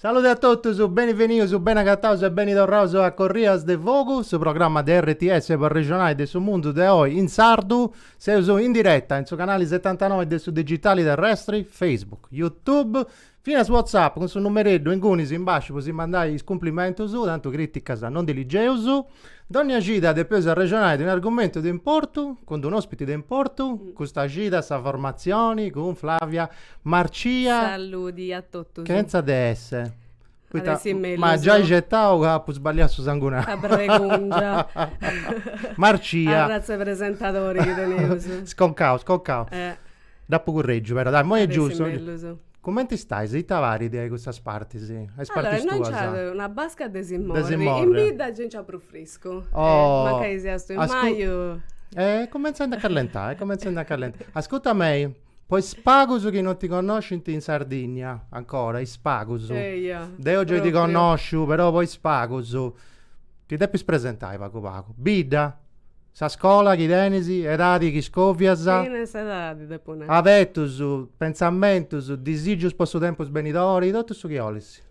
Salude a totus, beni venius, beni agataus e beni torraus a Corrias de Fogu, su programma de RTS po arrexonai de su mundu de oi in sardu. Seus in diretta in su canali setantanoi de su digitali terrestri, Facebook, YouTube, finas WhatsApp cun su numereddu ingunis in basciu po si mandai is cumplimentus, tantu criticas non ndi ligeus. Dònnia cida depeus arrexonai de unu argumentu de importu, cun d'unu òspiti de importu, custa cida sa formatzioni cun Flavia Marcia. Saludi a totus. Chentza de esse. Poita At essi mellus. m'at giai certau ca apu sballiau su sangunau. Sa bregungia. Marcia. Arratz'e presentadori chi teneus. Sconcau, sconcau. Dd'apu currègiu però, dai, imoi est giustu. Cumenti stais? Ita parit a custas partis, a is partis tuas? Allora, innoi nc'at una basca de si morri, in bidda gei nc'at prus friscu. Oh! Mancai siat su 'e maju. Eh, cumenzent a callentai, cumenzent a callentai. Ascurta mei, po is pagus chi non ti connoscint in Sardinnia, ancora, is pagus. Eia. Deu gei ti connosciu, però po is pagus, ti depis presentai pagu pagu. Bidda! Sa scola chi tenis, edadi chi scovias. Finas edadi depu nai. Afetus, pentzamentus, disigius po su tempus benidori, totu su chi 'olis.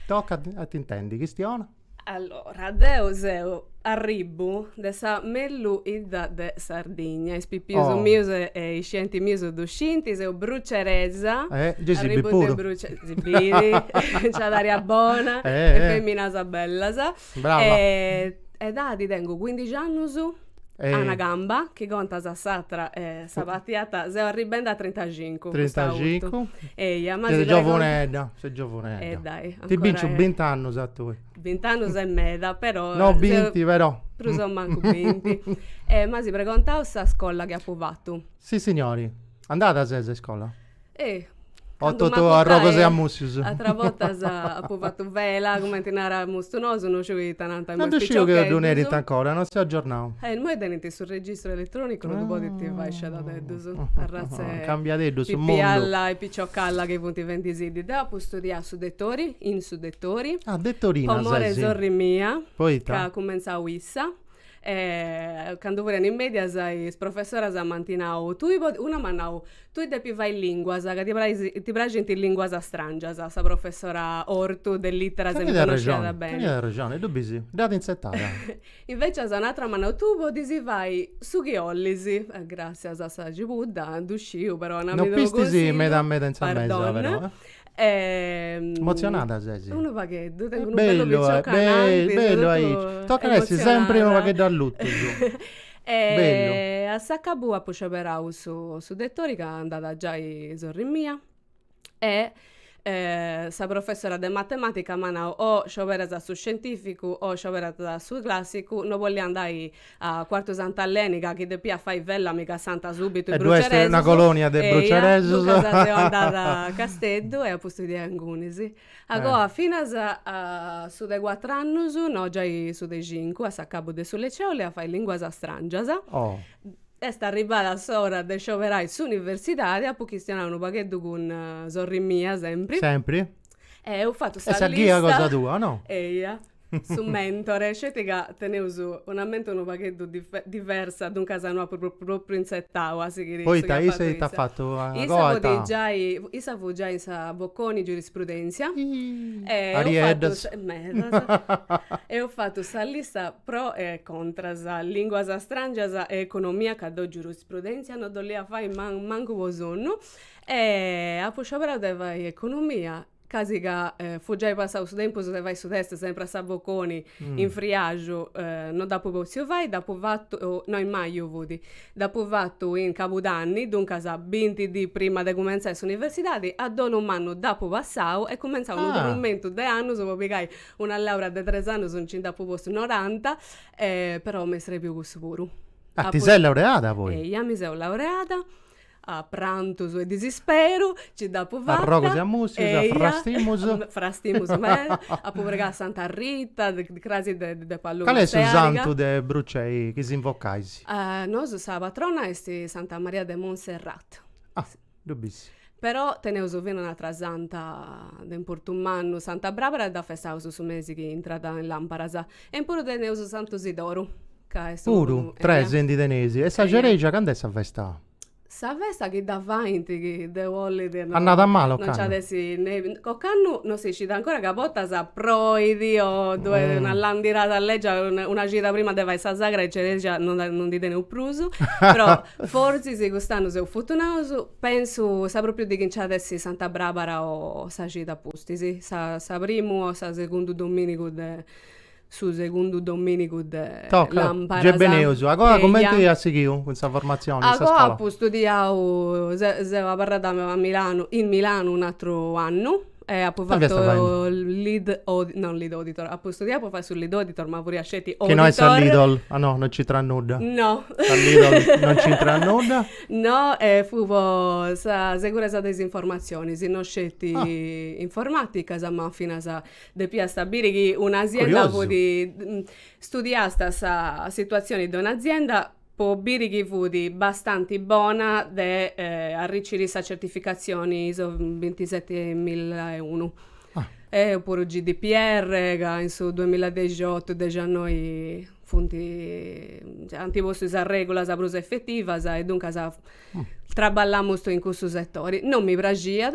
Tocat a t'intendi, chistiona. Allora, deu seu arribbu de sa mellù 'idda de Sardigna, is pipius mius e is scientis mius ddu scinti, seu bruceresa, arribbu de Brucei. Gei si biri puru. Nc'at aria bona e feminas bellas. Brava. E edadi tengu cuindixi annus, a una gamba, chi contas s'atra s'abatiat, seu arribendi a trintaxincu. Trintaxincu. Eia, ma. Ses giovunedda, ses giovunedda. E dai, ancora. Ti binciu bint'annus a tui. Bint'annus est meda, però. No binti, però. Prus o mancu binti. M'as pregontau sa scola chi apu fatu. Sissignori. Andada ses a iscola? Eh! Candu m'apu Totu arrogus e a mussius. Ateras bortas apu fatu vela, cumenti naramus nosu, no sciu ita nant imoi is piciocheddus. No ddu sciu chi ddu nerint ancora, non seu aggiornau. Eh, imoi tenint su registru elettronicu no ddu podint fai scedadeddus, arratz'e Cambiadeddus su mundu. pipialla e piciocalla chi funt fendisiddis. Deu apu studiau su Dettori, in su Dettori. Ah, dettorina ses. Po more sorri mia. Poita? Ca at cumentzau issa. E candu furent in mèdias is professoras m'ant nau, tui podis, una m'at nau, tui depis fai linguas, ca ti praxint is linguas stràngias, sa professora Ortu de literas mi connosciat beni. Teniat arrexoni, e ddu bis, dd'at intzetada. Invecias un'atra m'at nau, tui podis fai su chi 'ollis, gràssias a sa cibudda, ddu sciu, però una mi ddu cunsigliat. No pistis meda meda in sa mesa però, eh. Emotzionada ses? Unu pagheddu, tengu unu bellu piciocu cananti, bellu aici, tocat a essi sempri unu pagheddu allutus e a s'acabu apu scioberau su su Dettori ca andada giai sorri mia e sa professora de matematica m'at nau o scioberas su scientificu o scioberas su classicu, no 'ollu andai A Quartu Sant'Aleni ca chi depiat fai vella mi cassànt subitu is bruceresus. E ddui est una colonia de bruceresus. Eia, duncas seu andada a Casteddu e apu studiau ingunis. A goa finas a su de cuatru annus, no giai su de cincu, a s'acabu de su liceu 'olemu fai linguas strangias. Oh. Est arribada s'ora de scioberai s'universidadi, apu chistionau unu pagheddu cun sorri mia sempri. Sempri. E eus fatu sa lista. E sa ghia cosa tua, no? Eia. su mentori, sceti ca teneus una mente unu pagheddu diversa, duncas no apu propriu intzertau a sighiri su chi at fatu issa. Poita issa ita at fatu? Issa fut giai in sa Bocconi Giurisprudentzia. Arrieddas. Eus fatu sa lista pro e contras, linguas strangias e economia ca deu Giurisprudentzia no dd'olia fai mancu po sonnu e apu scioberau de fai economia sceti ca fut giai passau su tempus de fai su test sempri a sa Bocconi in friaxu no dd'apu potziu fai dd'apu fatu no in maju fut dd'apu fatu in cabudanni duncas binti dì prima de cumentzai s'universidadi a donu mannu dd'apu passau e cumentzau unu duxentus de annus po pigai una laura de tres annus nci nd'apu postu noranta però m'est srebiu cussu puru. Ah ti ses laureada poi? Eia mi seu laureada A prantus e disisperu ci dd'apu fatta. A arrogus e a mussius, a frastimus. Eia, frastimus meda. Apu pregau a Santa Rita, crasi de 'e Paduna. Cali est su santu de Brucei chi s'invocais? Nosu sa patrona est Santa Maria de Monserrat. Ah, ddu bis. Però teneus finas un'atra santa de importu mannu, Santa Brabara, dda festaus su mesi chi intrat in lamparas. E in puru teneus Santu Sidoru. Puru, tres ndi teneis. E sa cereja cand'est sa festa? Sa festa chi dda faint chi deu ollit no. Annada mala ocannu. No nci at essi nudda. Ocannu no si scit ancora ca a bortas proit o ddu'est una landirada legia, una cida prima de fai sa sagra 'e cereja no dda no ndi teneus prus. Però fortzis cust'annu seus fortunaus, pensu sa propriu dì chi nci at essi Santa Brabara o sa cida a pustis, sa sa primu o sa segundu dominigu de su segundu domìnigu de làmparas. Gei beneusu. Agoa cumenti as sighiu cun sa formatzioni in sa scola? Agoa apu studiau, seu abarrada a Milanu, in Milanu un'atru annu e apu fatu lead auditor, no lead auditor, apu studiau po fai su lead auditor ma furiu sceti auditor. Chi no est sa Lidl, ah no, no nc'intrat nudda. No. Sa Lidl no nc'intrat nudda. No e fut po sa seguresa de is informatzionis, no sceti informaticas ma finas Depiast a biri chi un'azienda fut, studiast sa situatzioni de un'azienda po biri chi fut bastanti bona de arriciri sa certificatzioni iso bintisetemilaeunu. E puru GDPR ca in su duamilla e dexiotu, dexannoi funt ant postu is arregulas prus efetivas e duncas Traballamus in cussu setori. Non mi praxiat,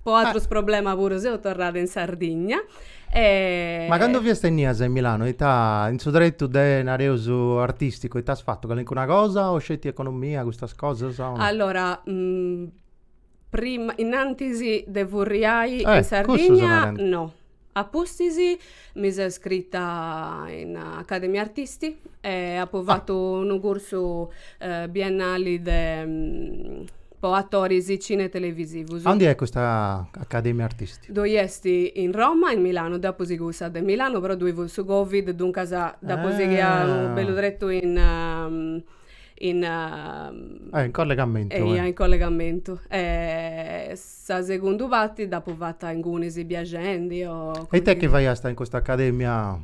po atrus problemas puru seu torrada in Sardigna e. Ma candu fiast innias in Milano ita, in su tretu de nareus artisticu, ita as fatu, calincuna cosa o sceti economia, custas cosas o no? Allora, prima, innantis de furriai in Sardigna no. A pustis mi seu iscrita in Accademia Artisti e apu fatu unu cursu biennali de po atoris cine e televisivus. Aundi est custa Accademia Artisti? Ddoi est in Roma e in Milanu, deu apu sighiu sa de Milanu però ddoi fut su Covid, duncas dd'apu sighia bellu tretu in in in collegamentu. Eia in collegamentu Sa segundu parti dd'apu fata ingunis biagendi o. E it'est chi faiasta in custa academia?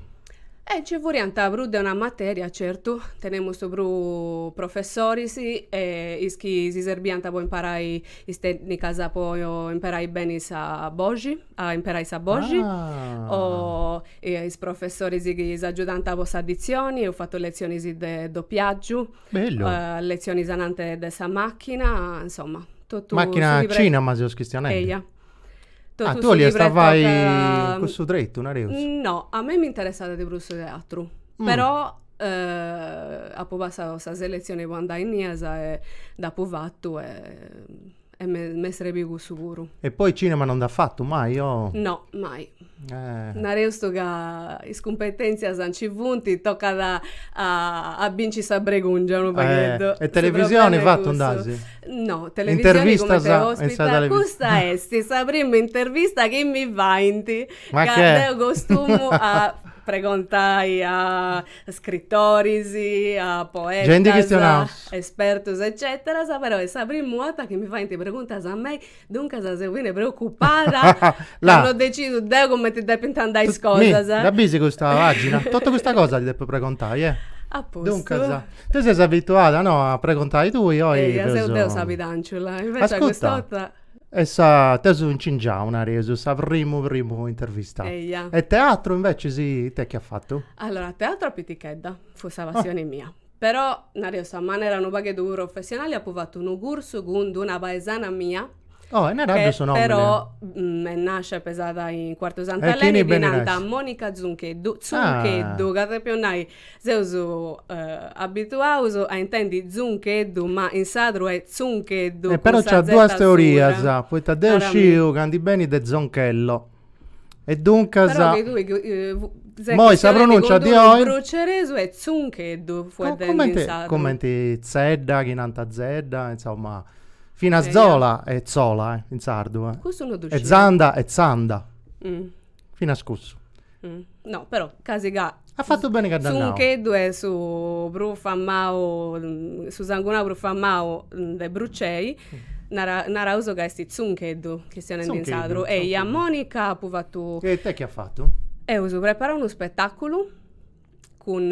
E nci furiant prus de una materia, certu, teniaus prus professoris e is chi si serbiant po imparai is tènnicas po imperai beni sa boxi, a imperai sa boxi, o is professoris chi s'agiudant po sa ditzioni, eus fatu letzionis de dopiàgiu, letzionis ananti de sa màchina, insoma. Totu Màchina su chi pre- cinema seus chistionendi. Eia. Totu Ah, su tui chi 'oliasta fai pretocat- cussu tretu, nareus. No, a mei m'interessat de prus su teatru, però apu passau sa selezioni po andai innias e dd'apu fatu e e m'est m'est serbiu cussu puru. E poi cinema non nd'as fatu mai o? No, mai Nareus ca is cumpetèntzias nci funt, tocat a binciri sa bregùngia unu pagheddu. E televisioni fatu nd'asi? No, televisioni cumenti a ospita, custa est sa primu intervista chi mi faint, ca deu costumu a pregontai a scritoris, a poetas, espertus eccetera, però est sa primu 'orta chi mi faint preguntas a mei Duncas seu chene preocupada ca no decidu deu cumenti depint andai is cosas. Mi, dda bisi custa pagina? Totu custa cosa ti depu pregontai, eh? Apustu. Duncas, tui ses abituada, no, a pregontai tui, oi feus... Eia, seu deu sa pidànciula, invecias cust'ota... E sa, t'eus incingiau, nareus, sa primu primu intervista. Eia. E teatru invecias it'est chi as fatu? Allora, teatru a pitichedda, fut sa passioni mia. Però, nareus a manera unu pagheddu professionali, apu fatu unu cursu cun d'una paesana mia, Oh, e naraddu su nomini. Però nascia e pesada in Quartu Sant'Aleni e ddi nant Monica Zuncheddu, Zuncheddu, ca depiu nai, seus abituaus a intendi Zuncheddu, ma in sardu est Zuncheddu, cun sa zeta surda. Però nc'at duas teorias, poita deu sciu ca ndi benit de zonchello. E duncas... Però che tue... Eh, eh, Moi sa pronuncia di oi... Bruceresu est Zuncheddu, fueddendi Co in sardu. Comenti Zedda, chi nanta Zedda, insomma... Finas eh, Zola e Zola, eh, in sardu, eh. Cussu non E Zanda e Zanda. Mm. Finas cussu. Mm. No, però, casi ca As fatu beni ca dd'as nau. Tzuncheddu est su prus famau, su sangunau prus famau de Brucei, nara- naraus ca est Tzuncheddu, chistionendi in sardu. Eia Monica apu fatu. E it'est chi as fatu? Eus preparau unu spetàculu cun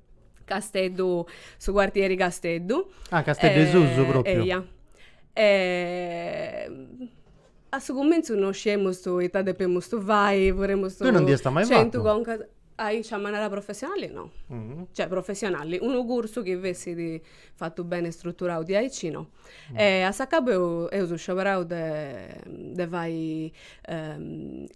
Casteddu, su quartieri Casteddu. Ah, Casteddu 'e susu propriu. Eia. a su cumintzu no sciemustu ita depemustu fai, furemustu. Tui non ndi esta mai fatu? Centu concas. Aici a manera professionali no. Cioè professionali, unu cursu chi fessit. fatu bene struturau diaici no e a s'acabu eu eusu scioberau de de fai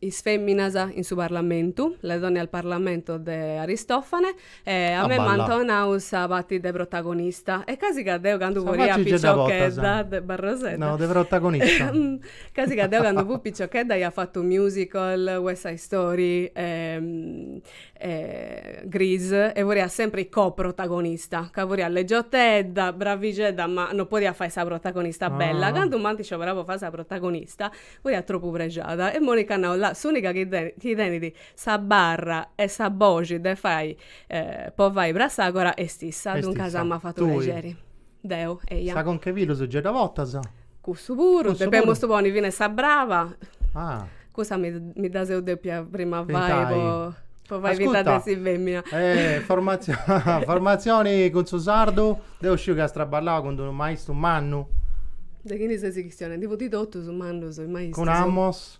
is feminas in su parlamentu le donne al parlamento de aristofane e a mei m'ant 'onau sa pati de protagonista e casi ca deu candu furia piciochedda de barrosedda no de protagonista casi ca deu candu fu piciochedda ia fatu musical west side story Grease e furia sempri co-protagonista ca furia leggiotedda, bravixedda ma no podia fai sa protagonista bella, candu m'ant scioberau po fai sa protagonista furia tropu prexada e Monica at nau, là s'unica chi tenit chi tenit sa barra e sa boxi de fai po fai Prassagora est issa, duncas m'at fatu prexeri. Deu, eia. Sa conca 'e pilus gei dda potas? Cussu puru, Cussu depemus puru. ponni finas sa braba. Ah. Cussa mi mi dda seu depia prima fai Pintai. po po fai finta de Ascurta. essi femina. Eh, formazio- formazioni cun su sardu? Deu sciu chi as traballau cun d'unu maistu mannu. De chini ses chistionendi? Funti totus mannus is maistus. Cun Amos?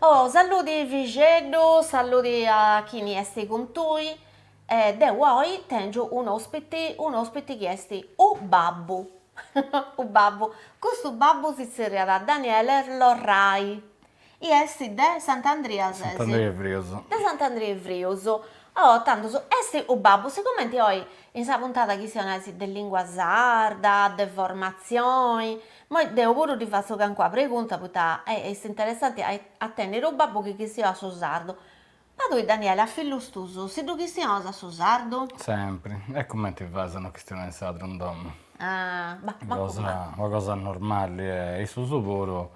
Oh, saludi Ivixeddu, saludi a chini esti cun tui, e deu oi tengiu un'ospiti, un'ospiti chi esti u babbu, u babbu, custu babbu si zerriat Daniele Lorrai, i esti de Sant'Andria ses? Sant'Andria 'e Frius. De Sant'Andria 'e Frius, oh, tandus, esti u babbu, sigumenti oi in sa puntada chistionais de lingua sarda, de formatzioni, Moi deu puru ddi fatzo cancuna pregunta poita est interessanti a tenniri unu babbu chi chistionat su sardu. Ma tui Daniele, a fillus tus, si ddu chistionas a su sardu? Sempri. E cumenti fais a no chistionai in sardu in domu? Ah, ma cosa. Una cosa normali e issus puru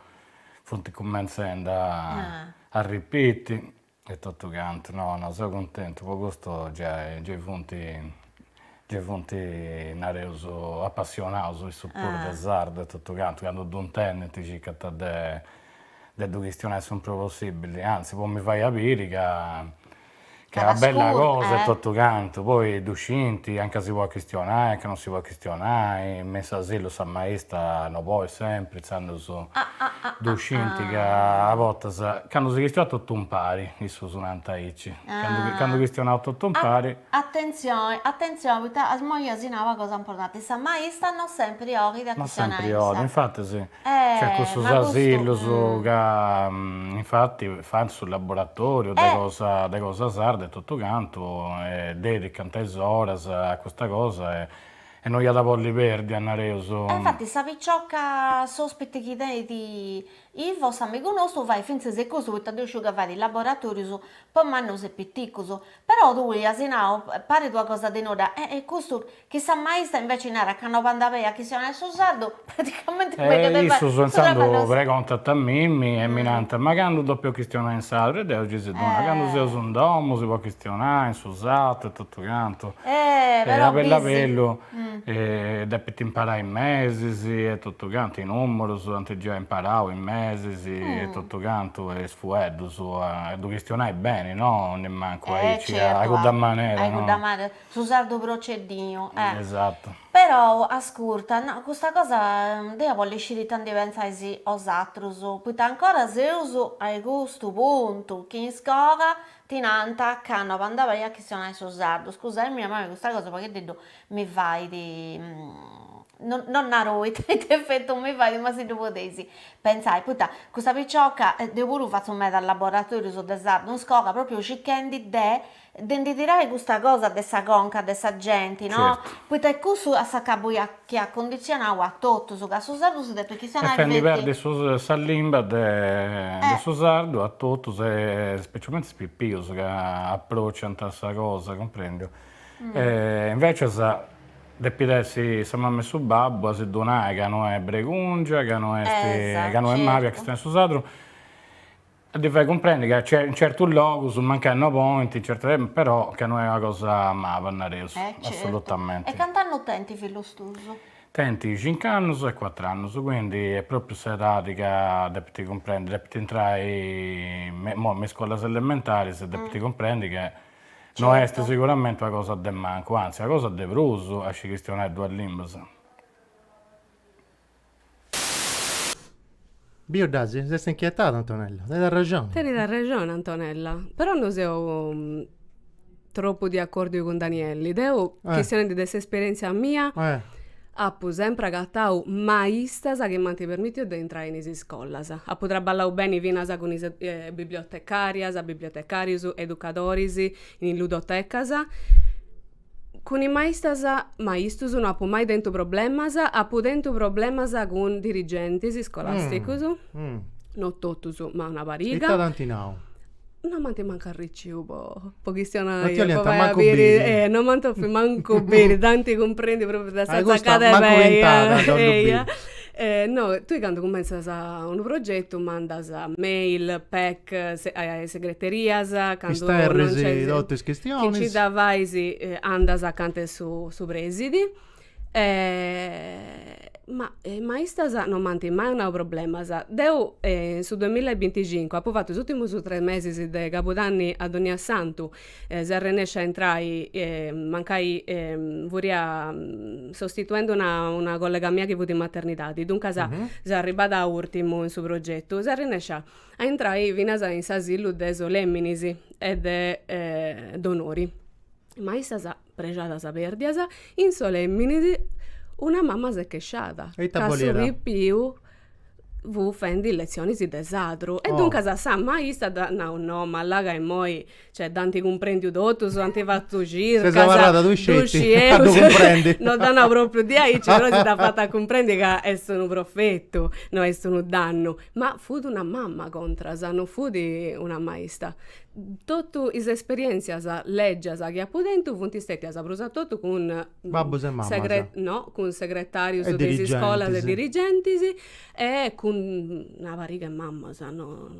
funt cumentzendi a arripiti E totu cantu, no, no, seu cuntentu, po custu gei, gei funt, gei funt, nareus, apassionaus issus puru de sardu e totu cantu, candu ddu intendint circant de de ddu chistionai su prus possibili, antzis po mi fai a biri ca ca est una bella cosa e totu cantu, poi ddu scint anca si podit chistionai, anca non si podit chistionai Chistionai me s'asilu sa maista no bolit sempri intzandus ddu scinti ca a bortas candu si chistionat totu impari, issus nant aici, candu chistionaus totu impari. Atentzioni, atentzioni, poita imoi as nau una cosa importanti, sa maista no sempri 'olit a chistionai. No sempri 'olit, infatis. Ca cussus asilus ca infatti fant su laboratoriu de cosa de cosa sarda e totu cantu e dedicant is oras a custa cosa e no iat a bolli perdi a nareus. E infatti sa picioca s'ospiti chi tenit Ivo s'amigu nostu fait fintzas e custu poita deu sciu ca fait laboratorius po mannus e piticus Però tui as nau, parit una cosa de nudda, e e custu, chi sa maista inveci narat ca no bandat beni a chistionai su sardu, praticamenti e issus intzandus pregontant a mimmi e mi narant, ma candu depu chistionai in sardu? E deu gei si ddu nau, candu seus in domu si podit chistionai in su sardu e totu cantu, e a bellu a bellu. e depint imparai is mesis e totu cantu, is numerus ant giai imparau is mesis e totu cantu e is fueddus a ddu chistionai beni no, nimancu aici a cudda manera no, su sardu proceddiu esattu, perou ascurta no custa cosa deu bollu sciri ita ndi pentzais osatrus, poita ancora seus a custu puntu chi in iscola ti nant ca no bandat beni a chistionai su sardu, scusaimì, a mimi custa cosa pagheddeddu mi fait no no naro ita ita effettu mi fait ma si ddu podeis pentzai, poita custa picioca deu puru fatzo meda laboratorius de sardu in iscola propriu circhendi de de ndi tirai custa cosa de sa conca de sa genti no, poita e cussu a s'acabu chi at cunditzionau a totus, ca su sardu si depit chistionai feti. Fendi perdi sa limba de su sardu a totus e specialmente is pipius ca aprociant a sa cosa, cumprendiu. Invecias depit essi sa mama e su babbu a si ddu nai ca no est bregungia, ca no est, ca no est mali a chistionai su sardu. A ddi fai cumprendi ca in certus logus mancai no podint, certu, però ca no est una cosa maba, nareus, assolutamenti. E cant'annus tenint fillus tuus? Tenint cinc'annus e cuatr'annus, quindi est propriu s'edadi ca depint cumprendi, depint intrai imoi me is scolas elementaris e depint cumprendi ca no est siguramenti una cosa de mancu, anzi una cosa de prus a scì chistionai duas limbas. Bi 'oddàs? S'est inchietada Antonella. Tenit arrexoni. Tenit arrexoni Antonella. Però no seu tropu de acòrdiu cun Danielli. Deu, chistionendi de s'esperièntzia mia, apu sempri agatau maistas chi m'ant permìtiu de intrai in is iscolas. Apu traballau beni finas cun is bibliotecàrias, bibliotecàrius, educadoris in is ludotecas. Cun is maistas, maistus no apu mai tentu problemas, apu tentu problemas cun dirigentis scolàsticus, no totus ma una pariga. Ita t'ant nau? No m'ant mancu arriciu po po chistionai. No ti 'oliant mancu biri. Eh, no m'ant bòfiu mancu biri, tanti cumprendint propriu de sa tzaccada 'e pei. Ai custu at aguintada a ddu biri. E no, tui candu cummentzas unu progetu mandas mail, pec, a is segreterias, candu non nc'est, isterris totu is chistionis. Chi nci dda fais andas acanta 'e su su presidi. Ma is maistas non m'ant mai donau problemas. Deu in su duamilla e binticincu apu fatu is ùrtimus tres mesis de cabudanni a donnia santu seu arrennescia a intrai mancai furia sostituendi una collega mia chi fut in maternidadi duncas seu arribada a urtimu in su progetu seu arrennescia a intrai finas in s'asilu de Soleminis e de Donori ma issas prexadas perdias in Soleminis una mama s'est chesciada ca su pipiu fut fendi letzionis de sardu e duncas sa maista dd'at nau, no ma la ca immoi, cioè dd'ant cumprendiu totus, ant fatu circas, ddu scieus, no dd'at nau propriu diaici, però si dd'at fatu a cumprendi ca est unu profetu, no est unu dannu, ma fut una mama contras, no fut una maista, totu is esperientzias legias chi apu tentu funt stetias prus a totu cun Babbus e mamas. No, cun segretarius de is iscolas e dirigentis. E dirigentis. E cun una pariga 'e mamas, no.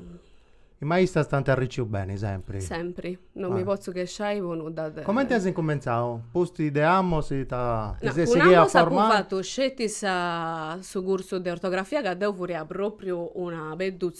Is maistas t'ant arricciu beni sempri? Sempri, non mi potzu chesciai po nudda deu. Comenti as incumentzau? A pustis de Àmus ita ti ses sighida a formai? No, cun amus apu fatu sceti sa su cursu de ortografia ca deu furia propriu una pedduzza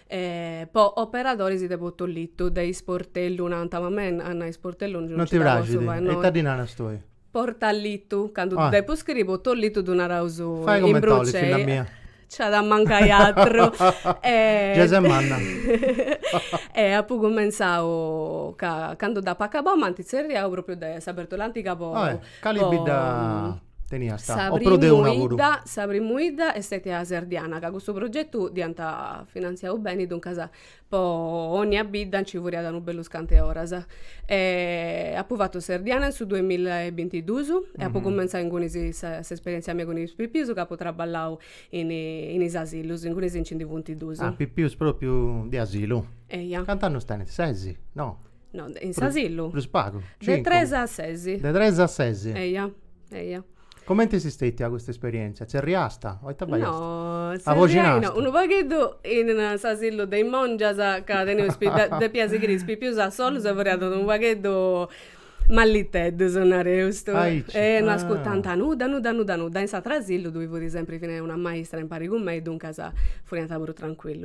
E po operadoris de Portallitu de Isportellu nant ma mei a nai Sportellu non ti praxit e ita ddi naras tui? Portallitu candu ddu depu scriri Portallitu ddu naraus in brucei nc'at a mancai atru giai ses manna e apu cumentzau ca candu dd'apu acabau m'ant tzerriau propriu de sa Bèrtula Antiga po Cali bidda teniasta? O prus de una puru? Sa primu 'idda est stètia Serdiana, ca custu progetu dd'iant finantziau beni, duncas po onnia bidda nci furriat unu bellu cantu 'e oras. Apu fatu Serdiana in su duemilla e bintidus e apu cumenzau inguni s'esperièntzia mia cun is pipius ca apu traballau in in is asilus, ingunis nci ndi funt dus. Ah, pipius pròpriu de asilu? Eia. Cant'annus tenint? Ses? No? No, in s'asilu? Prus pagu, cincu. De tres a ses. De tres a ses. Eia, eia. Comente est stetia custa esperièntzia? Tzerriasta o ita faiasta? No, tzerriài no, unu pagheddu in s'asilu de is mòngias ca teniaus depiat sighiri is pipius a sollus e furiant unu pagheddu malliteddus, nareus. Aici. E no ascurtant nudda, nudda, nudda, nudda. In s'ateru asilu ddoi fut sempri fina una maistra impari cun mei, duncas furiant puru trancuillus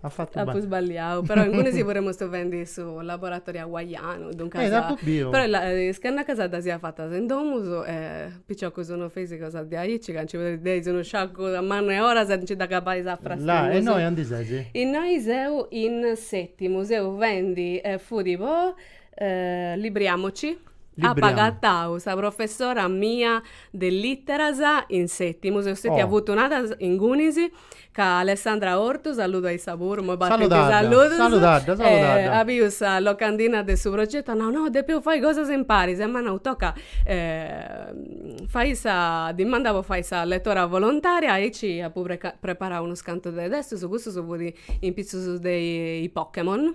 At fatu beni. Apu sballiau, però ingunis puru furemus fendi su laboratoriu aguaianu, duncas. Eh, dd'apu biu. Però is cannacas ddas apu fatas in domus e piciocus non fais cosas de aici ca nci podeus, dd'eis unu sciacu mannu 'e oras e nci dd'agabais a frastimus. Là, e innoi aundi ses? Innoi seu in Sètimu, seu fendi e fut po Libriamoci. Libriamo. Apu agatau sa professora mia de litteras in Sètimu, seu stetia fortunada ingunis. Ca Alessandra Ortu saludu a issa puru, imoi b'at tentu is salludus. Saludadda, saludadda. A biu sa locandina de su progetu at nau, no, depeus fai cosas imparis e m'at nau, toca fai sa dimanda po fai sa letora volontaria, aici apu preparau unus cantu de testus, custu fut in pitzus de i Pokemon.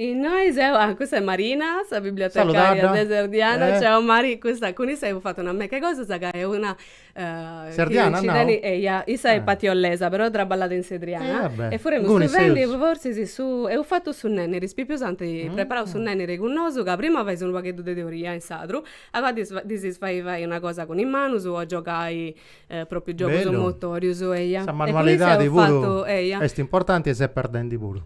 Innoi seu, ah cussa est Marina, sa bibliotecària de Serdiana, ciao Mari, custa cun issa eus fatu una meca 'e cosas ca est de Serdiana no? Eia, issa est patiollesa però traballat in Serdiana Ah beh, inguni seus E furemus cun is fèrrus su, eus fatu su nenniri, is pipius ant preparau su nenniri cun nosu ca prima fais unu pagheddu de teoria in sardu agou ddis ddis fais fai una cosa cun is manus o giogai propriu giogus Bellu motorius, eia Sa manualidadi puru est importanti e s'est perdendi puru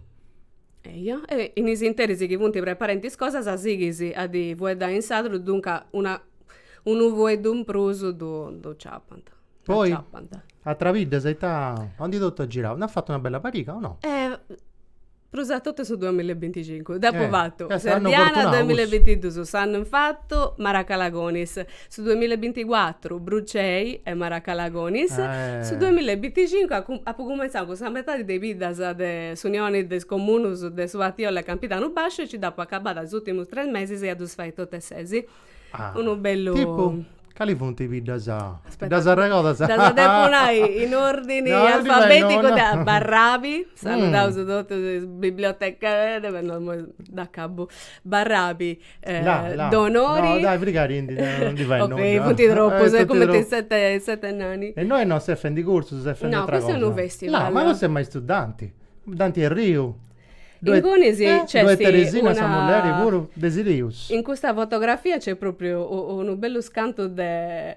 Eja, e in is interis chi funt preparendi is cosas a sighis a ddi fueddai in sadru, duncas una unu fueddu in prus ddu ddu ciappant. Poi atras biddas e ita, a undi totu as girau, nd'as fatu una bella pariga o no? Prus a totu su duamilla e binticincu, dd'apu fatu, Serdiana duamilla e bintiduus, s'annu infatu Maracalagonis, Su duamilla e binticuatru Burcei e Maracalagonis, su duamilla e binticincu apu apu cumenzau cun sa metadi de is biddas de s'Unioni de is Comunus de su Patiolla e Campidanu Basciu e nci dd'apu acabada is ùrtimus tres mesis a ddus fai totu e sesi. Unu bellu. Tipu? Cali funt is biddas? Aspetta. Ddas arregodas? Ddas depu nai in ordini alfabeticu de Barrabi, saludaus totus is biblioteca, dd'acabu, Barrabi, Donori No, frigari ndi fai nudda Ok, funti troppus, est cumenti sete sete nani E innoi non ses fendi cursus, ses fendi atra cosa No, custu est unu festival No, ma custu est maistu Danti Danti Erriu Inguni si nc'est Ddoi est Teresina sa mulleri puru de Silius In custa fotografia nc'est propriu unu bellus cantus de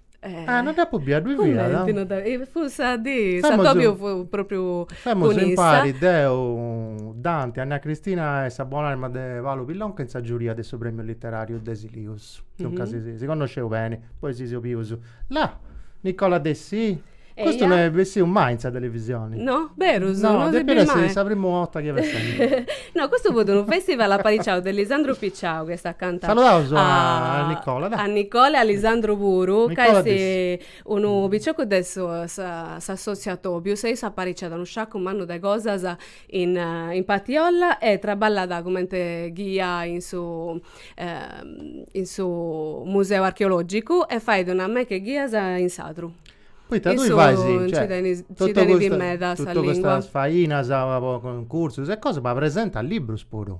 Ah, non dd'apu bia, ddui fiat? Cumenti non dd'apu bia, fut sa dì, s'atobiu fut propriu Femus impari deu, Dante, Anna Cristina e sa buon'anima de Paolo Pillonca in sa giuria de su premiu literariu de Silius, duncas si connosceus beni, poi si seus bius, là, Nicola Dessì Custu no est bessiu mai in sa televisioni. No? Berus? No, no depiat essi sa primu 'orta chi est essendi. No, custu fut unu festival apariciau de Lisandru Picciau, chi est acanta. Saludaus a Nicola, dai. A Nicola e a Lisandru puru, ca est unu piciocu de s'assotziu Atobiu, sei is apariciat unu sciacu mannu de cosas in in Patiolla e traballat cumenti ghia in su in su museu archeologicu e fait una meca 'e ghias in Sadru. Poita tui fais, cioè, totu custas, totu custas fainas po cuncursus e cosa, ma presentas librus puru.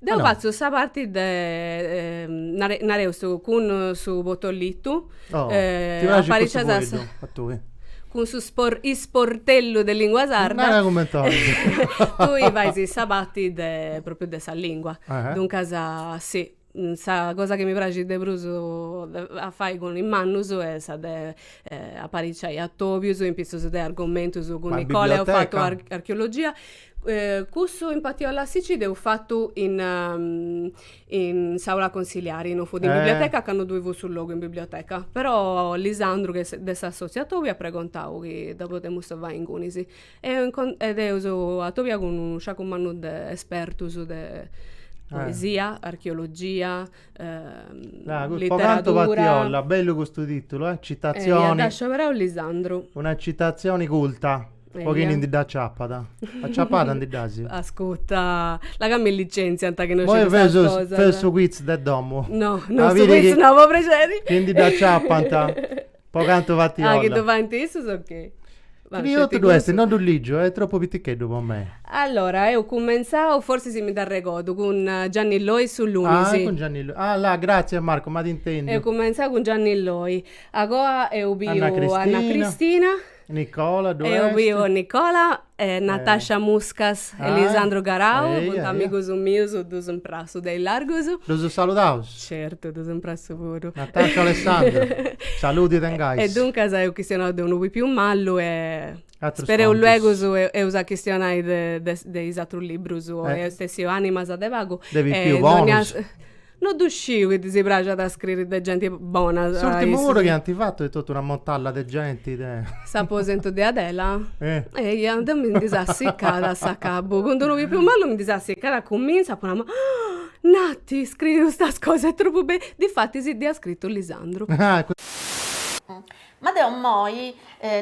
Deu fatzu sa parti de, nare, nareus su, cun su portalitu. Oh, ti praxit cussu fueddu a tui? Cun su spor, isportellu de lingua sarda. Nara cumenti 'olis. Tui fais sa parti de, propriu de sa lingua. Duncas, sì. Sa cosa chi mi praxit de prus a fai cun is mannus est sa de apariciai atobius in pitzus de argomentus cun Nicola eus fatu archeologia. Cussu in Patiolla si nci dd'eus fatu in in s'aula consiliari, non fut in biblioteca ca non ddoi fut su logu in biblioteca. Però Lisandru de s'assotziu Atobiu at pregontau chi dda podemus fai ingunis. e eus atobiau cun unu sciacu mannu de espertus de poesia, archeologia, literadura. Bellu custu titulu eh, citazioni. Dd'at scioberau Lisandru. Una citazioni culta. Po chini ndi dd'aciapat. Aciapada ndi dd'asi? Ascuta, la ca mi licenziant chi no sciu custas cosas. Feus su quiz de domu. No, no su quiz no, po prexeri. Chi ndi dd'aciapant. Po cantu fant olla. Ah, chi ddu faint issus ok? Scritu ddu est, no ddu ligiu, est tropu piticheddu po mei. Allora, eus cumentzau, forsi si mi dd'arregodu, cun Gianni Loi su lunis. Ah, cun Gianni Loi. Ah, là, gratzias Marco, m'at intendiu. Eus cumentzau cun Gianni Loi. A goa eus biu Anna Cristina. Nicola, due est? Eus biu Nicola, Natasha Muscas e Lisandru Garau, funt amigus mius, ddus imprassu de illargu. Ddus saludaus? Certu, ddus imprassu puru. Natasha Alessandro, saludi tengais. E duncas eus chistionau de unu pipiu malu e spereu luegus eus a chistionai de is atrus librus, o est essiu Animas de pagu. De pipius bonus. No ddu sciu chi ddis praxat a scriri de genti bona. S'ùrtimu puru chi ant fatu est totu una mortalla de genti de. S'aposentu de Adela? Eia, deu mi ndi seu assicada a s'acabu. Cun d'unu pipiu malu mi ndi seu assicada a cumintzu, apu nau, Nati, scriri custas cosas est tropu bellu. Difatis si dd'ia scritu a Lisandru. Ma deu immoi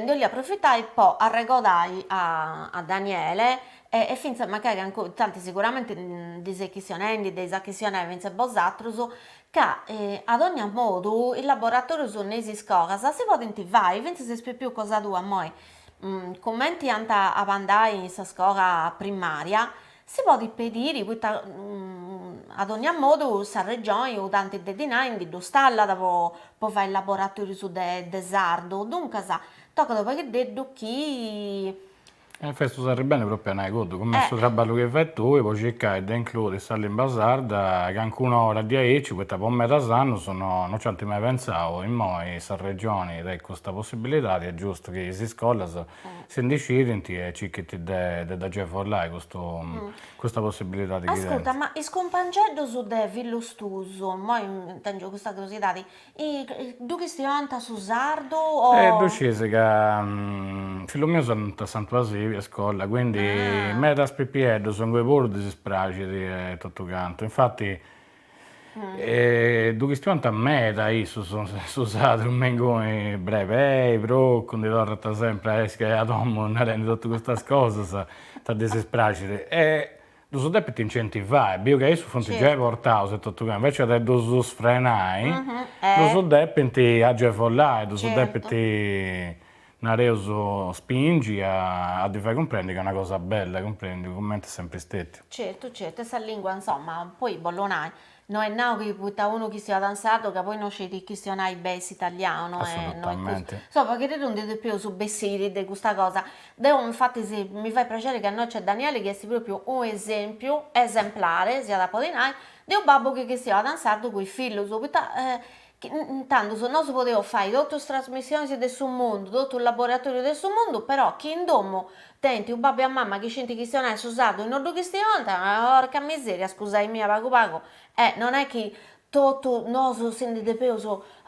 ndi 'olia aprofitai po arregodai a Daniele E fintzas magari ancora, tanti sicuramente ndi ses chistionendi, dd'eis a chistionai fintzas bosatrus, ca a dogna modu is laboratorius innoi is iscolas si podint fai, fintzas is pipius cosa tua immoi, cumenti ant a andai in sa scola primaria, si podit pediri poita a dogna modu sa Regioni unu tanti de dinai ndi ddus tallat po fai is laboratorius de sardu, duncas tocat unu pagheddeddu chi E festus arribendi propriu a nai cuddu, cumenti su trabballu chi fait tui po circai de includi sa limba sarda calincuna ora diaici, poita po medas annus no no nci ant mai pentzau, immoi sa Regioni tenit custa possibilidadi, est giustu chi is iscolas si ndi scidint e circhint de de dd'agevolai custu custa possibilidadi chi tenint. Ascurta, ma is cumpangeddus de fillus tuus, immoi tengiu custa curiosidadi, E ddu chistionant su sardu o. E ddu sciis ca fillus mius andant a Santu Basili a iscola, quindi medas pipieddus inguni puru ddis praxit e totu cantu, infati ddu chistionant meda issus su sardu, me inguni brebei, procu, ndi torrant sempri a essi a domu narendi totu custas cosas, poita ddis praxit e Ddus depint incentivai, biu ca issus funt giai portaus etotu ca, invècias de ddus frenai, ddus depint agevolai, ddus depint, nareus, spingi a ddi fai cumprendi ca est una cosa bella, cumprèndiu, cumenti est sempri stètiu. Certu, certu, e sa lìngua, insoma, poi bollu nai, No est nau chi poita unu chistionat in sardu ca poi no scit chistionai beni s'italianu no est custu. Sa paghe chi nd'i depeus bessiri de custa cosa. Deo infatis mi fait prexeri chi innoi nc'est Danieli chi est propriu unu esempiu esemplare si at a podi nai de unu babbu chi chistionat in sardu cun is fillus poita Intandus nosu podeus fai totu is trasmissionis de su mundu, totu is laboratorius de su mundu, però chi in domu tenint su babbu e sa mama chi scinti chistionai su sardu e no ddu chistionant, porca miseria scusai-mì, a pagu pagu e non è chi totu nosu si ndi depeus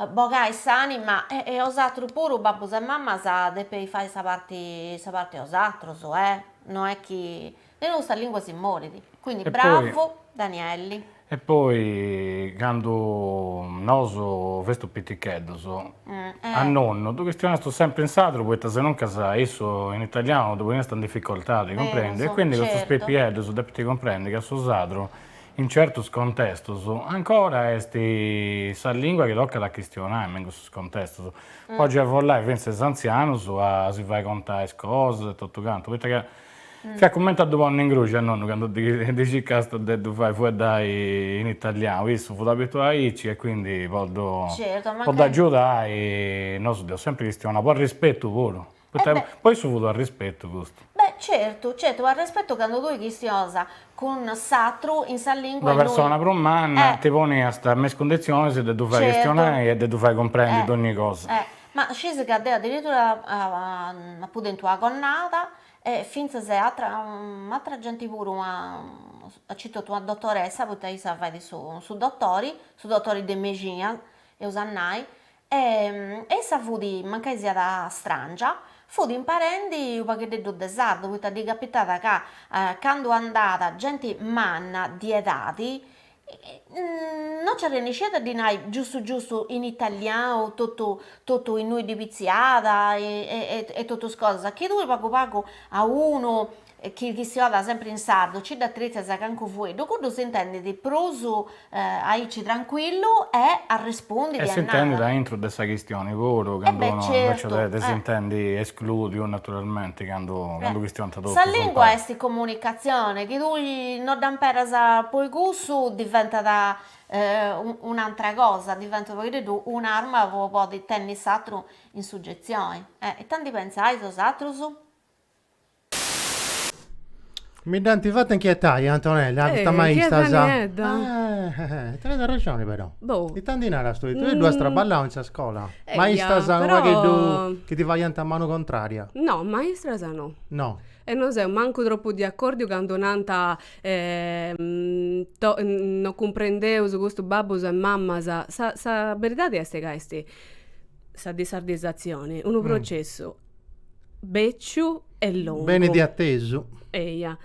bogai s'anima e bosatrus puru babbus e mamas depeis fai sa parti sa parti bosatrus eh, no è chi Ca sinò sa lingua si morit. Quindi bravu Danieli. E poi candu nosu festu piticheddos a nonnu ddu chistionastu sempri in sardu poita senuncas issu in italianu ddu poniast in dificoltadi cumprèndiu quindi custus pipieddos depint cumprendi ca su sardu in certus contestus ancora est sa lingua chi tocat a chistionai me in custus contestus. Po agevolai fintzas is anzianus a si fai contai is cosas e totu cantu poita ca Fiat cumenti a ddu ponni in gruxi a nonnu candu ddi circàsta de ddu fai fueddai in italianu, issu fut abituau aici e quindi po ddu agiudai, nosu dd'eus sempri chistionau, po arrispetu puru, poita po issu fut u' arrispetu custu. Beh certu, certu, u' arrispetu candu tui chistionas cun s'atru in sa lingua innui. Una persona prus manna ti poniast me is cundizionis de ddu fai chistionai e de ddu fai cumprendi dogni cosa. Ma scisi ca deo addirittura apu tentu una connada e fintzas e atra atra genti puru aici etotu una dotoressa poita issa fait u' su dotori, su dotori de mexina eus a nai e issa fut, mancai siat strangia, fut imparendi unu pagheddeddu de sardu poita ddi capitat ca candu andat genti manna di edadi no nci arrennescit a ddi nai giustu giustu in italianu totu totu innui ddi pitziat e totu is cosas, chi tui pagu pagu a unu chi fueddat sempri in sardu nci dd'atritzas calincunu fueddu, cuddu s'intendit prus aici trancuillu e arrespundit e narat. E s'intendit a intro de sa chistioni puru, candu unu invece de s'intendi esclòdiu naturalmenti Sa lìngua est comunicatzione, chi tui no dd'amperas poi cussu diventat un'atra cosa, diventat unu paghededdu un'arma po podi tenni s'atru in sugetzioni ita ndi pentzais bosatrus? Mi dd'ant fata inchietai, Antonella, a custas maistas. Eh, inchiesa niedda. Eh, tenes arrexoni però. Boh. Ita ndi naras tui? Tui ddu as traballau in sa scola? Eia, Maistas però- unu pagheddu chi ti faiant manu contraria? No, maistras no. No. E no seu mancu tropu de acòrdiu candu nant to- non cumprendeus custus babbus e mamas. Sa sa beridadi est ca est sa dissardizzatzioni, unu processu. bèciu e longu. Benit de atesu. Eja.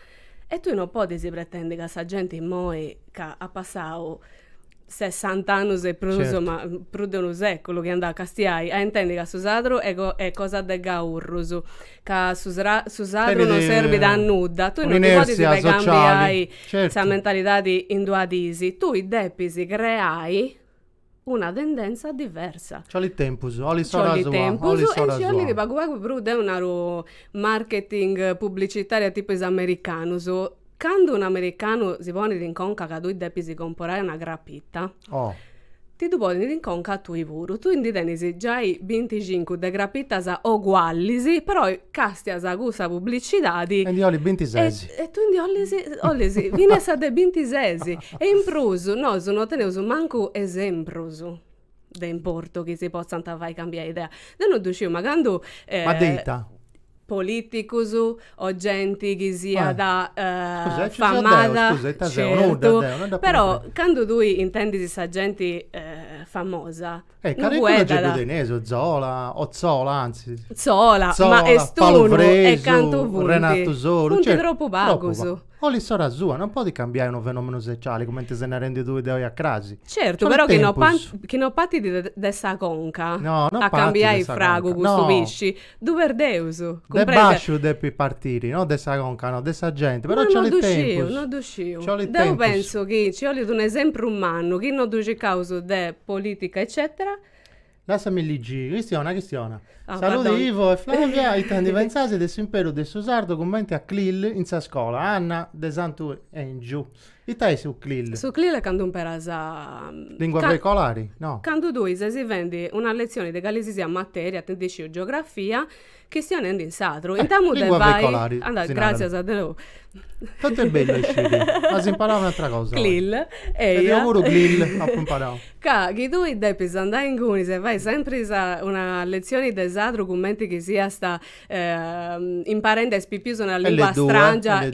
E tui no podis pretendi ca sa genti immoi ca at passau sessant'annus e prus puru, ma prus de unu sèculu chi andat a castiai, a intendi ca su sardu est cosa de gaurrus, ca su su sardu no serbit a nudda, tui no ndi podis cambiai sa mentalidadi in duas dis, tui depis creai una tendenza diversa. Ci 'olit tempus, 'olit s'ora sua, 'olit s'ora sua. Ci 'olit tempus e nci 'olit unu pagu pagu prus deu naru marketing publicitaria tipu is americanus. Candu un americanu si ponit in conca ca tui depis comporai una crapita, ti ddu ponit in conca a tui puru. Tui ndi tenis giai binticincu de crapitas ogualis, però castias a cussa publicidadi. E ndi 'olis bintises. E tui ndi 'olis, 'olis finas sa de bintises. E in prus, nosu no teneus mancu esemprus de importu chi si potzant fai cambiai idea. Deu no ddu sciu, ma candu, Ma de is politicus o genti chi siat famada, certu, però candu tui intendis sa genti famosa Eh, calincunu nci ddu teneus, Zola, o Zola antzis. Zola, ma est unu, e cantu funt. Renatu Soru. Funt tropu pagus. 'Olit s'ora sua, non podit cambiai unu fenomenu sociali, cumenti ses narendi tui de oi a crasi. Certu, però chi no partit de sa conca a cambiai fragu custu pisci. Ddu perdeus. De basciu depit partiri, no de sa conca, no, de sa genti, però nci 'olit tempus. No ddu sciu, no ddu sciu. Deu pensu chi nci 'olit un esempru mannu, chi no ddu ciacaus de politica eccetera. Lassami ligi, chistiona, chistiona. Saludi Ivo e Flavia, ita ndi pentzais de s'imperu de su sardu cumenti a CLIL in sa scola, Anna de Santu Engiu. Ita est su CLIL? Su CLIL est candu imperas a. Lingua veicolari? No. Candu tui ses fendi una letzioni de cali si siat materia, deu ita isciu geografia, chistionendi in sardu. Intamu de fai. Lingua veicolari. Si narat. Gràtzias a Deus. Totu est bellu a isciri. As imparau un'atra cosa oi. CLIL, eia. E deu puru CLIL apu imparau. Ca chi tui depis andai inguni e fai sempri sa una letzioni de sardu cumenti chi siasta imparende is pipius una lingua strangia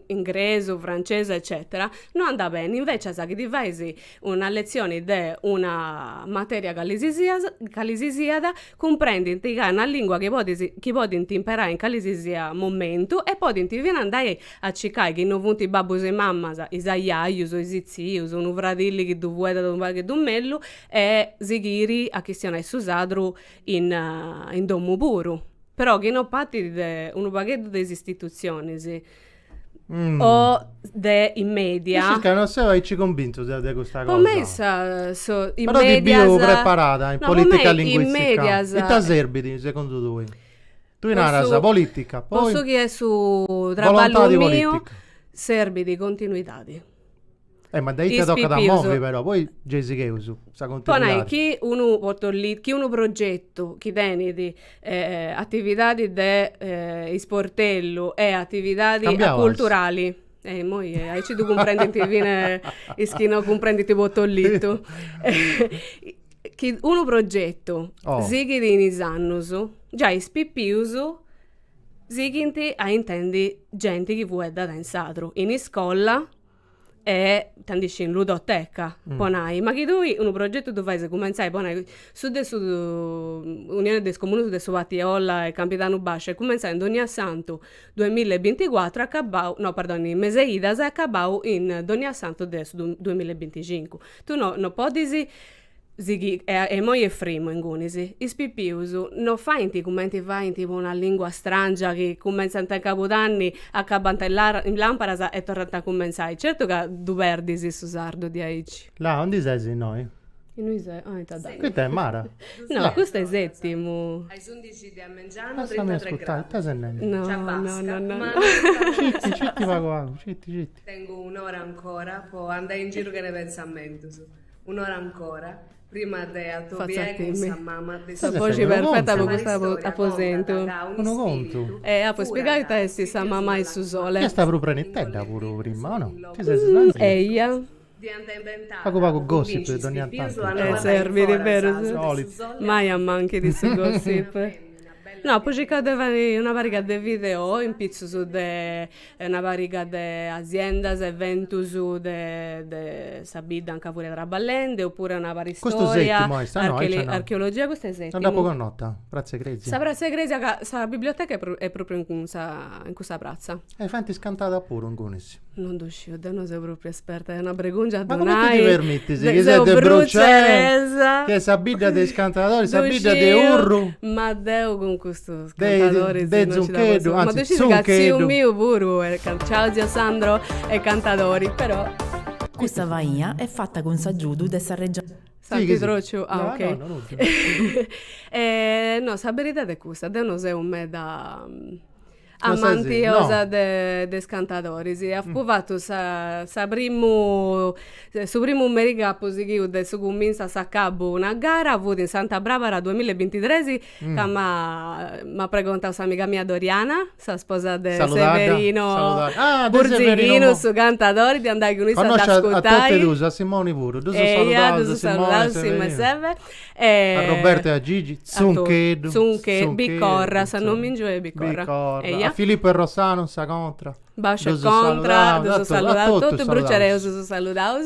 ingresu francesu eccetera no andat beni invecias chi ddi fais una letzioni de una materia calisisiat calisisiat cumprendint ca est una lingua chi podis chi podint imperai in calisisiat momentu e podint fina andai a circai chi no funt is babbus e is mamas is ajajus is tzius unu fradilli chi ddu fueddant unu pagheddu mellus e sighiri a chistionai su sardu in domu puru, però chi no partit de unu pagheddu de is istitutzionis o de is media. Is circa no seu aici cumbintu deu de custa cosa. Po mei funt is medias. Però ti biu preparada in politica linguistica. Ita serbit segundu tui? Tui naras politica, poi. Po su chi est su traballu miu serbit continuidadi. Eh, ma de ita tocat a movi però, poi gei sigheus sa continuidadi. chi unu protollitu, chi unu progetu chi tenit atividadi de isportellu e atividadi culturali. Cambiaus. Eh, immoi aici ddu cumprendint fina is chi no cumprendint protollitu. Chi unu progetu sighit in is annus, giai is pipius Sighint a intendi genti chi fueddat in sardu in iscola e ita ndi sciu in ludoteca, po nai. Ma chi tui unu progetu ddu fais cumentzai, po nai, su de su Unione de is Comunos de su Partiolla e Campidanu Bàsciu est cumentzau in Donniasantu duemilla e binticuatru e acabau, no perdoni, in Mes'e Idas e acabau in Donniasantu de su duemilla e binticincu. Tui no no podis Sighi e imoi est frimu ingunis. Is pipius no faint cumenti faint po una lingua strangia chi cumentzant in Cabudanni, acabant in làr in Làmparas e torrant a cumentzai. Certu ca ddu perdis su sardu diaici. Là ondi ses innoi? Innui ses, ah ita dd'at. Ita est Mara? No, custu est Setimu. A is undixi de a mengianu Lassami ascurtai, ita ses nendi? No, no, no, no, no. Citi, citi pagu pagu, citi, citi. Tengu un'ora ancora po andai in giru chene pentzamentus. Un'ora ancora, prima de atobiai cun sa mama de su. Sa boxi perfeta po custu aposentu. Unu contu. Apu a spiegai ita esti sa mama 'e su sole. Est prus prenitedda puru prima, o no? Ti ses slangiau. Eia. Dd'iant inventau. Pagu pagu gossip de dogna tantu. E serbit, berus. Mai manchit su gossip. No, apu circau de fai una pariga de video in pitzus de e una pariga de asiendas eventus de de sa bidda anca furia traballende oppure una pariga de Custu storia settimu est, ah no aici archele no archeologia custu est settimu. No dd'apu connota, pratza 'e crèsia. Sa pratza 'e crèsia ca sa biblioteca est est propriu in cunsa in cussa pratza. E faint is cantadas puru ingunis? Non ddu sciu, deu no seu propriu esperta, est una bregungia a ddu nai. Ma cumenti ti permitis chi ses de Burcei, chi est sa bidda de is cantadoris, sa bidda de Urru. Ma deu cun custus cantadori de Zuncheddu, anzi Zuncheddu. Ma ddu scis ca tziu miu puru est cantadori. Ciao zio Sandro, est cantadori però. Custa faina est fata cun s'agiudu de sa Regioni. S'at trotu? Ah ok. No, no, nudda. No, sa beridadi est custa, deu no seu meda amantiosa de is cantadoris. Apu fatu sa sa primu, su primu merì chi apu sighiu de su cumintzu a s'acabu una gara fut in Santa Brabara duamilla e bintitresi ca m'at pregontau s'amiga mia Doriana, sa sposa de Severino Burzighinu, su cantadori, de andai cun issa a dd'ascurtai. Connosciu a totu e duus, a Simoni puru, ddus saludaus a Simoni, a Severino, a Roberto e a Gigi, Tzuntcheddu, Biccorra, su nomìngiu est Biccorra, a Filippo e Rossano in sa contra. Basciu e contra ddus saludaus a totus, bruciareus ddus saludaus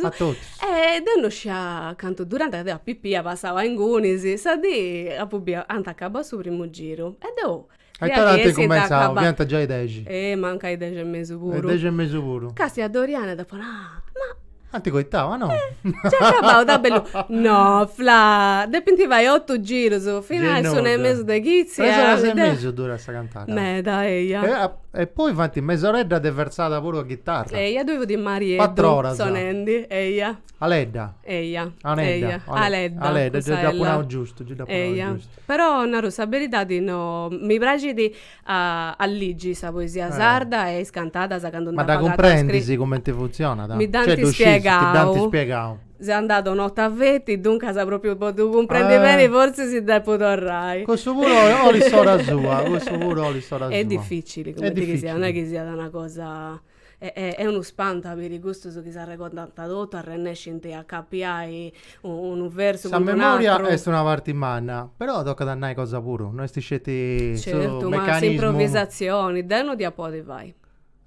e deu non scidia cantu durant ca deu a pipia ia passau a ingunis, sa dì apu biu, ant acabau su primu giru e deu Aitara ant cumenzau, fiant giai dexi. Mancai dexi e mesu puru. Dexi e mesu puru. Castia Doriana e deu apu nau, ma Ant coitau, ah no! Nc'est acabau, da bellu. No, Fla, depint fai otu girus, finas a s'una e mesu de chitzi. Tres oras e mesu durat sa cantata. Meda, eia. E poi faint mesoredda de versada puru a ghitarra. Eia, ddoi fut Marieddu sonendi, eia. Aledda. Eia, eia, Aledda. Aledda, gei dd'apu nau giustu, gei dd'apu nau giustu. Però, naru sa beridadi, no, mi praxit A a ligi sa poesia sarda e is cantadas candu nd'ant apretau a scriri. Ma dda cumprendis cumenti funtzionat? Mi dd'ant spiegau. Ti dd'ant spiegau. Seu andada una 'orta feti, duncas propriu po ddu cumprendi beni fortzis depu torrai. Cussu puru olit s'ora sua, cussu puru olit s'ora sua. Est dificili, cumenti chi siat, non est chi siat una cosa. Est unu spantu a biri custus chi s'arregordant totu, arrennescint a acapiai unu versu cun un'atru. Sa memoria est una parti manna, però tocat a nai cosa puru, no est sceti su meccanismu. Certu, ma s'improvisatzioni, deu no ddia podi fai.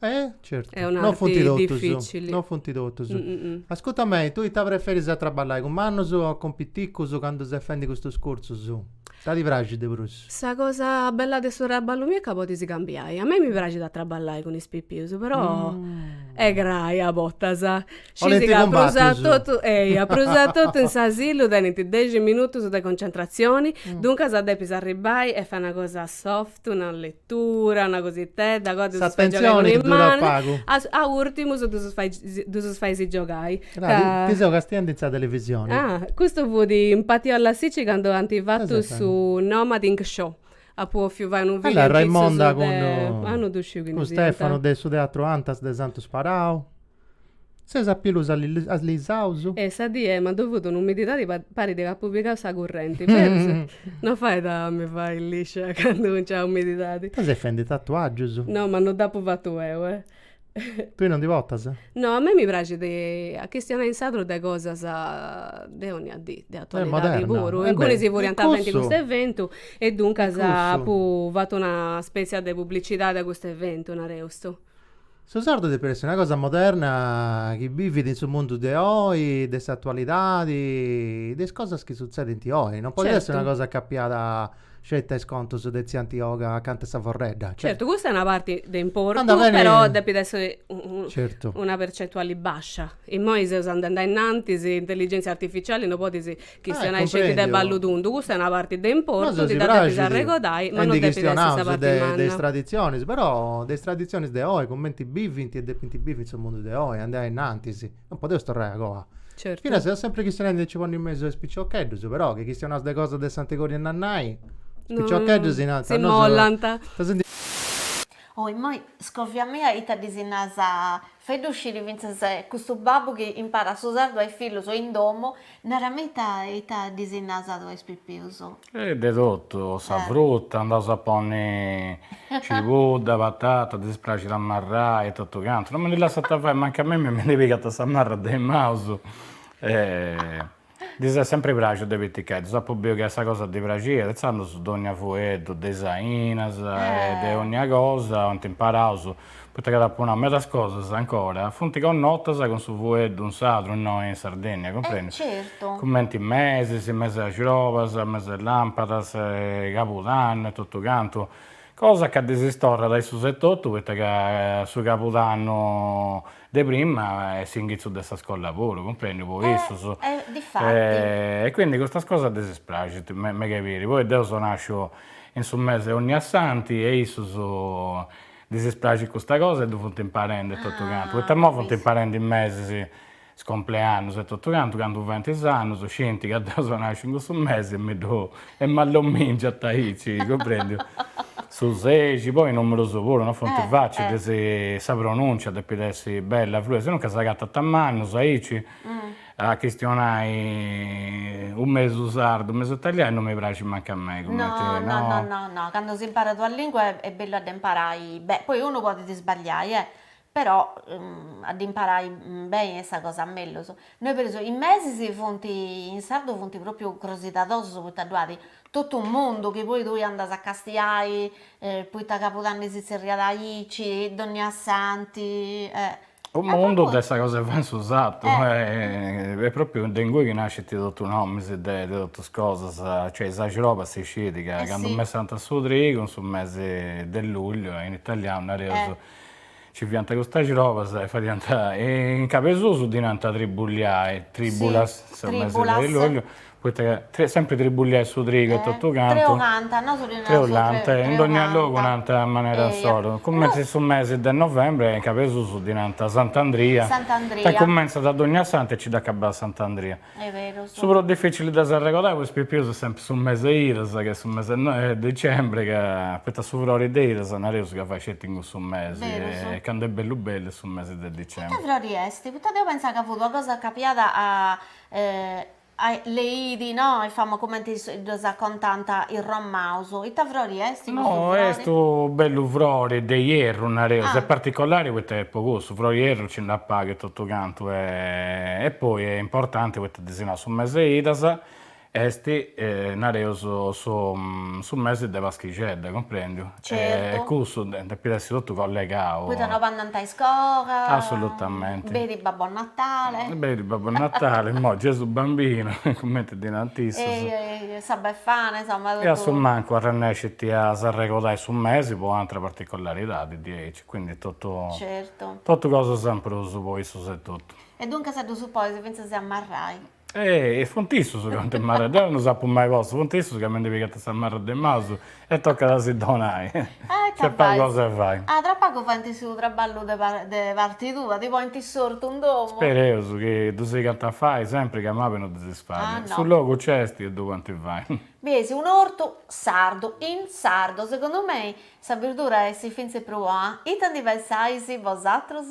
E? Certu. Est un'arti dificili. No funt totus. No funt totus. Ascurta mei, tui ita preferis a traballai cun mannus o cun piticus candu ses fendi custus cursus? Ita ti praxit de prus? Sa cosa bella de su traballu miu est ca podis cambiai. A mei mi praxit a traballai cun is pipius, però est grai a bortas. Scis ca prus a totu, eia, prus a totu in s'asilu tenint dexi minutus de concentratzioni, duncas depis arribbai e fai una cosa soft, una letura, una cositedda, a goa ddus fai giogai cun is manus, a urtimus ddus fai ddus fais giogai. Ti seu castiende in sa televisione. Ah, custu fut in Patiolla Sici candu ant fatu su Nomading Show. Apu bòfiu fai unu filmu in pitzus de. Cun Stefano de su Teatru Antas de Santu Sparau. Seus a pilus allisaus. E sa dì e mandu fut un'umididadi chi parit ca apu pigau sa currenti. Berus? No fait a mi fai liscia candu nc'at umididadi. Ita ses fendi tatuagius? No, ma no dd'apu fatu eu, eh. Tui non ndi portas? No, a mei mi praxit a chistionai in sardu de cosas de onnia dì, de atualidadi puru. Ingunis furiant fendi custu eventu e duncas apu fatu una spetzia de publicidadi a custu eventu, nareus custu. Su sardu depit essi una cosa moderna chi bivit in su mundu de oi, de s'atualidadi, de is cosas chi sutzedint oi. Non podit essi una cosa chi apiat Sceti is contus de tzia Antioga acanta 'e sa forredda. Certu, custa est una parti de importu, però depit essi una percentuali bascia. Immoi seus andendi a innantis, intelligentzia artificiali no podis chistionai sceti de ballu tundu, custa est una parti de importu, dda depis arregodai, ma no depit essi sa parti manna. Nosu si praxit e ndi chistionaus de is traditzionis, però de is traditzionis de oi, cumenti bivint e depint bivi in su mundu de oi, andai a innantis. non podeus torrai a coa. Certu. Finas seus sempri chistionendi de nci ponni in mesu a is piciocheddus, però chi chistionaus de cosas de s'antigori e nannai, is piciocheddus si narant, nosu. Si mollanta. Oh immoi, scòvia a mei ita ddis nas, fai-ddu sciri fintzas custu babbu chi imparat su sardu a is fillus in domu Nara-mì ita ita ddis nas a is pipius. E de totu, sa fruta, andaus a ponni cibudda, patata, ddis praxit a marrai e totu cantu, no mi ndi lassant fai, mancai a mimmi mi ndi pigant sa marra de is manus, ddis est sempri praxiu de piticheddus, ddus apu biu ca est sa cosa ddi praxiat, intzandus dogna fueddu de is ainas e de ogna cosa ant imparaus poita ca t'apu nau medas cosas, ancora, funt connotas cun su fueddu in sadru innoi in Sardinnia, cumprendi? Certu. Cumenti mesis, mesi 'e argiolas, mesi 'e làmpadas, cabudannu e totu cantu, cosa ca ddis torrat a issus etotu poita ca su cabudannu de prima est s'ingitzu de sa scolla puru, cumprendi, po issus. Eh, difatti. E quindi custas cosas ddis praxint meda 'e biri, poi deu seu nasciu in su mesi 'e Onniassanti e issus ddis praxit custa cosa e ddu funt imparendi totu cantu, poita imoi funt imparendi mesis, is compleannus e totu cantu, candu faint is annus scint ca deu seu nasciu in cussu mesi e mi ddu e m'at ddu mingiant aici, cumprendiu, su sexi, poi is numerus puru non funt facilis, ddis sa pronùncia depit essi bella, fluida, sinuncas s'agatant a mannus aici A chistionai u mesu sardu, u mesu italianu no mi praxit mancu a mei cumenti no. No no no no, candu s'imparat una lingua est bellu a dd'imparai beni, poi unu podit sbagliai e, però a dd'imparai beni est sa cosa mellus. Nois per esempiu, is mesis funt, in sardu funt propriu crosidadosus poita ddu at totu u' mundu chi poi tui andas a castiai poita Cabudanni si tzerriat aici, dònnia santi e U mundu de sa cosa fai in su satu e propriu de ingui chi nascint totu nomis de totus cosas, cioè is axrobas si scit ca candu messant su trigu in su mesi de lugliu in italianu nareus nci fiant custas axrobas e fadiant e in cabesusu ddi nant tribulliai, tribulas, su mesi de lugliu Poita ca sempri tribulliai su trigu e totu cantu. Treulanta, nosu ddi narus treulanta. Treulanta, in dogna logu nant a manera insoru. Cumenti su mesi de novembri, in Cabesusu ddi nant Sant'Andria. Sant'Andria. Ca cumentzat a Dognasantu e nci dd'acabat a Sant'Andria. Est beru. Su prus dificili de s'arregodai po is pipius est sempri su mesi 'e idas, ca est su mesi 'e dicembri, ca poita su frori de idas nareus ca fait sceti in cussu mesi. Berus. E candu est bellu bellu est su mesi de dicembri. Ita frori est? Poita deu pentzà ca fut una cosa chi apiat a Le idi, no, est famosu cumenti ddas contant is romaus. Ita frori est custu frori? No, est u' bellu frori de ierru, nareus, est particolari poita est po cussu, frori 'e ierru nci nd'at paghi totu cantu e e poi est importanti poita ddi si nau su mesi 'e idas est, nareus, su mesi de paschixedda, cumprendiu? Certu. E cussu depit essi totu collegau. Poita no andant a iscola. Assolutamente. Benit Babbo Natale. Benit Babbo Natale, imoi Gesù Bambino, cumenti ddi nant issus. E sa Befana, insoma totu. E a su mancu arrennescit a s'arregodai su mesi po u'atra particolaridadi diaici, quindi totu. Certu. Totu cosas in prus po issus etotu. E duncas ddus ponis fintzas a marrai. E funt issus ca funt marras, deu non s'apu mai postu, funt issus ca mi ndi pigant sa marra de maus e tocat a si donai, nc'est pagu cosa 'e fai. Ah, tra pagu faint su traballu de de parti tua, ti ponint in s'ortu in domu? Spereus chi ddu sigant a fai sempri ca a mama non ddi dispraxit, su logu nc'est e ddu podint fai. Biesi un'ortu sardu, in sardu, segundu mei sa birdura essit fintzis prus bona, ita ndi pensais bosatrus?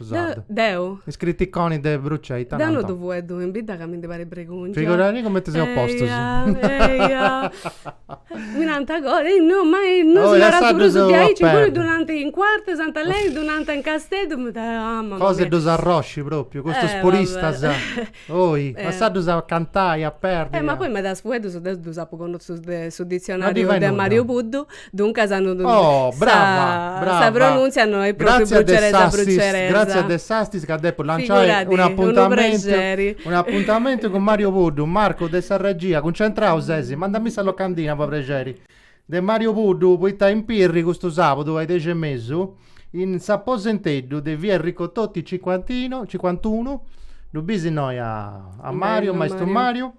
Sarda. De, deu. Is criticoni de Brucei. Deu no ddu fueddu in bidda ca mi ndi parit bregòngia. Figurarì cumenti seus postus. Eia, mi nant agoa, no, ma no si narat prus diaici, imui ddu nant in Cuartu Sant'Aleni, ddu nant in Casteddu, mi da, ah, mamma mia. Cosa 'e ddus arrosci propriu, custus puristas. Oi, a sa ddus a cantai, a perdi. Eh, ma poi medas fueddus deu ddus apu connotus de su ditzionariu de Mariu Puddu, duncas no ddu. Oh, brava, brava. Sa pronuntzia no est propriu bruceresa bruceresa. Gratzias de s'assist ca depu lanciai un'apuntamentu, un'apuntamentu cun Mariu Puddu, Marcu de sa regia, cuncentrau sesi, mandami sa locandina po prexeri. de Mariu Puddu poita in Pirri custu sàbudu a is dexi e mesu in s'aposenteddu de via Enrico Toti cincuantino cincuantunu ddu bis innoi a a Mariu maistu Mariu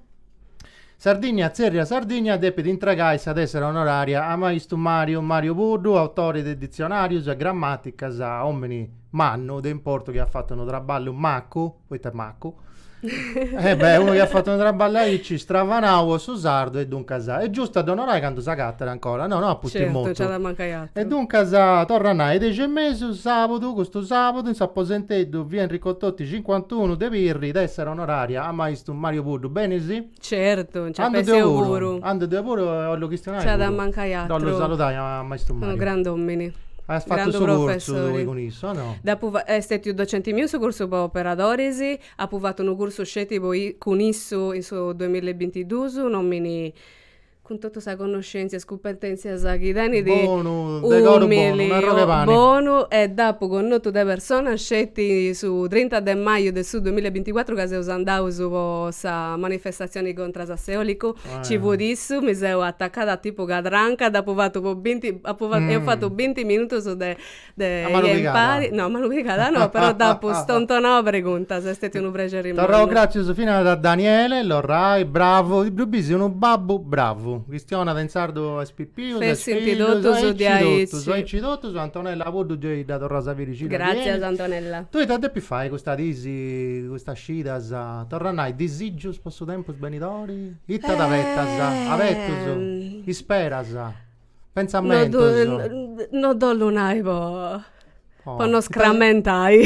Sardinnia tzerriat Sardinnia depit intragai sa tessera onoraria a maistu Mariu Mario Puddu autori de ditzionarius e grammaticas omini mannu de importu chi at fatu unu traballu macu poita macu, e beh, unu chi at fatu unu traballu aici, stravanau po su sardu, e duncas, est giustu a dd'onorai candu s'agatat ancora, no, no a pustis mortu. Certu, nc'at a mancai aturu. E duncas, torru a nai, dexi e mesu, sabudu, custu sabudu, in s'aposenteddu, Via Enrico Toti cincuantunu de Pirri, tessera onoraria a maistu Mario Puddu, benisi? Certu, nci seu puru. Andu deu puru e 'ollu chistionai puru. Nc'at a mancai atru. Dd'ollu saludai a maistu Mariu. Unu grand'omini. Aias fatu su cursu tui cun issu o no? Dd'apu est stetiu docenti miu in su cursu po operadoris, apu fatu unu cursu sceti po cun issu in su duamilla e bintiduus, un omini cun totu sa connoscèntzia e is cumpetèntzias chi tenit, bonu, de coru bonu, un'arrogu 'e pani, umili, bonu e dd'apu connotu de persona sceti su trinta de maju de su duamilla e binticuatru ca seus andaus po sa manifestatzioni contras a s'eòlicu, nci fut issu, mi seu atacada tipu cadranca, dd'apu fatu po binti, apu fatu, eus fatu binti minutus de de impari, no malu pigada no, però dd'apu stontonau preguntas, est stetiu unu prexeri immensu. Torraus gràtzias finas a Daniele Lorrai, bravu, ddu bisi unu babbu bravu, chistionat in sardu a is pipius, a is fillus, aici totus diaici, aici totus, Antonella Puddu gei dda torras a biri scida diaici, gràtzias Antonella, tui ita depis fai custas disi, custas scidas, torra a nai, disigius po su tempus benidori, ita t'abetas, abetus, isperas. Pentzamentos. No dd'ollu nai po po no scrammentai,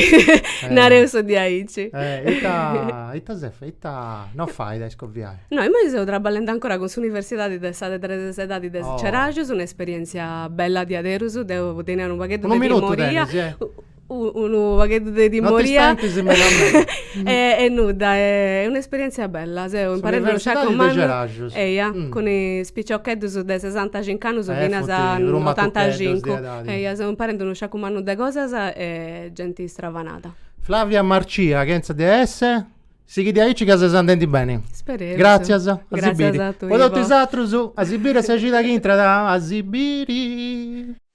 nareus diaici. Ita ita ses fai, ita no fait a iscoviai? No, imoi seu trabballendi ancora cun s'universidadi de sa de tres edadi de Ceraxus, un'esperientzia bella diaderus, deu tenia unu pagheddu de timoria. Unu minutu tenis, eh? unu pagheddu de timoria. No t'istentis meda meda. E nudda, est un'esperièntzia bella, seu imparende unu sciacu mannu. Eia, cun is piciocheddus de sesantacincu annus finas a notantacincu. Eia, seu imparende unu sciacu mannu de cosas e genti stravanada. Flavia Marcia, chentza de esse, sighi diaici ca ses andendi beni. Spereus. Gràtzias, a si biri. Po totu is atrus, a si biri e sa cida chi intrat, a si biri.